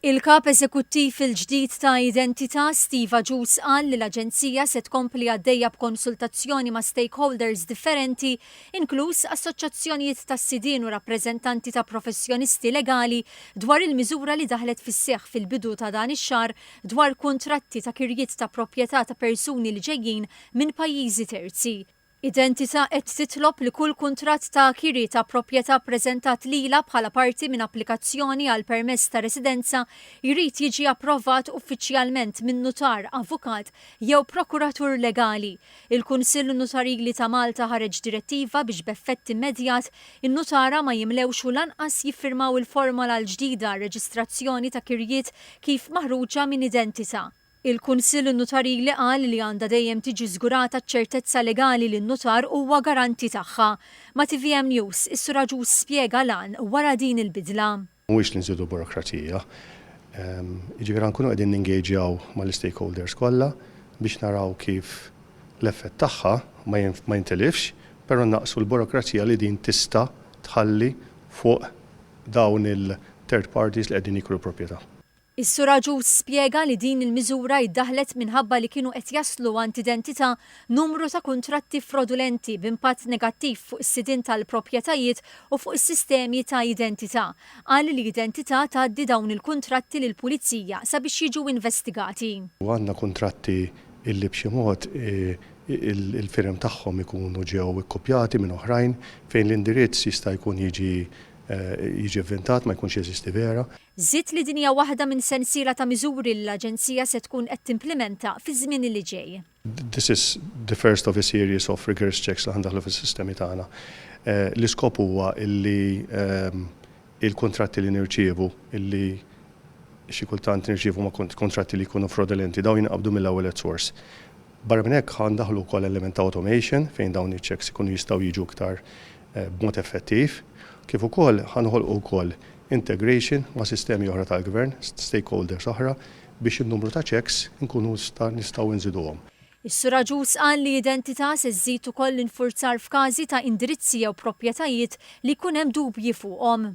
Il-Kap Eżekuttiv il-ġdid ta' Identità, Steve Agius qal li l-Aġenzija se tkompli għaddejja b'konsultazzjoni ma' stakeholders differenti inkluż assoċjazzjonijiet tas-sidien u rappreżentanti ta' professjonisti legali dwar il-miżura li daħlet fis-seħħ fil-bidu ta' dan ix-xahar dwar kuntratti ta' kirjiet ta' proprjetà ta' persuni li ġejjin minn pajjiżi terzi Identità qed titlob li kull kuntratt ta' kiri ta' proprjetà ppreżentat lilha bħala parti minn applikazzjoni għal permess ta' residenza jrid jiġi approvat uffiċjalment minn nutar, avukat jew prokuratur legali. Il-Kunsill Nutarili ta' Malta ħareġ direttiva biex b'effett immedjat in-nutara ma jimlewx u lanqas jiffirmaw il-formola l-ġdida għar-reġistrazzjoni ta' kirjiet kif maħruġa minn Identità. Il-Kunsill Nutarili qal li għandha dejjem tiġi żgurata ċ-ċertezza legali li n-nutar huwa garanti tagħha. Ma' tvm News, is-Sur Agius spjega l-għan wara din il-bidla. Mhuwiex li nżidu burokrazija. Jiġifieri ħa nkunu qegħdin ningeġjaw mal-istakeholders kollha biex naraw kif l-effett tagħha ma jintilifx, però nnaqqsu l-burokrazija li din tista' tħalli fuq dawn il-third parties li qegħdin jikru l-proprjetà. Is-Sur Agius spjega li din il-miżura iddaħħlet minħabba li kienu qed jaslu għand identità numru ta' kuntratti frodulenti b'impatt negattiv fuq is-sidien tal-proprjetajiet u fuq is-sistemi ta' identità. Qal li Identità tgħaddi dawn il-kuntratti lill-Pulizija sabiex jiġu investigati. Għandna kuntratti illi b'xi mod il-firem tagħhom ikunu ġew ikkupjati minn oħrajn fejn l-indirizz jista' jkun jiġi jiġi vvintat ma jkunx jeżisti vera. Żied li din hija waħda minn sensiela ta' miżuri li l-Aġenzija se tkun qed timplimenta fiż-żmien li ġej. This is the first of a series of rigorous checks li ħa ndaħħlu fis-sistemi tagħna. L-iskop huwa li l-kuntratti li nirċievu, li xi kultant nirċievu ma' kuntratti li jkunu frodulenti, dawn jinqabdu mill-ewwel at source. Barra minn hekk ħa ndaħħlu wkoll element ta' automation fejn dawn iċ-checks ikunu jistgħu jiġu iktar b'mod effettiv, kif ukoll ħa noħolqu wkoll integration ma' sistemi oħra tal-gvern, stakeholders oħra, biex in-numru ta' checks inkunu nistgħu nżiduhom. Is-Sur Agius qal li identità se żżid ukoll l-infurzar f'każi ta' indirizzi jew proprjetajiet li jkun hemm dubji fuqhom.